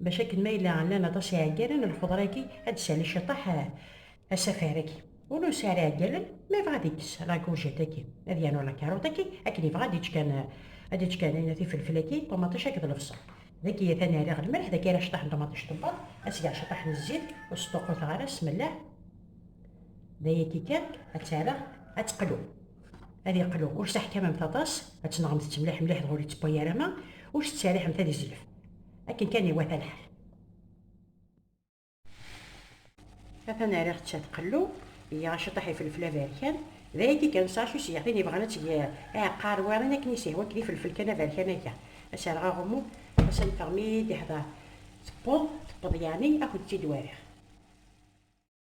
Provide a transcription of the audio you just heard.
Bac akken ma yella llan aṭas iɛeggalen, lxeḍra-agi ad d-tessali ciṭaḥ asafar-agi. Ula ur sɛin ara iɛeggalen, ma yebɣa ad ikkes lakurjet-agi, ad yernu lakarut-agi, akken yebɣa ad ičč kan, ad ičč kan ayen tifelfel-agi, ṭumaṭic akked lebṣel. Dagi atan rriɣ lmelḥ, dagi ara ciṭaḥ n ṭumaṭic tewweḍ, ad sgeɣ ciṭaḥ n zzit, ur sṭuqquteɣ ara, smellaḥ. D ayagi kan, ad tt-rreɣ ad teqlu. Ad yeqlu, ur s-teḥkamemt aṭas, ad tenɣemt-tt mliḥ mliḥ dɣa ur yettewway ara ma ur s-tettseriḥemt ad izellef. akken kan iwata lḥal atan riɣ tsa tqellu iya aciṭaḥ ifelfel aberkan d ayagi kan sasu s yaɣtin yebɣan ad teg aɛeqqar warin akken isihwa kdi ifelfel kan aberkan akka aserɣ aɣummu asan teɣmi d-iḥḍer tewweḍ tewweḍ yaɛni akent-id wariɣ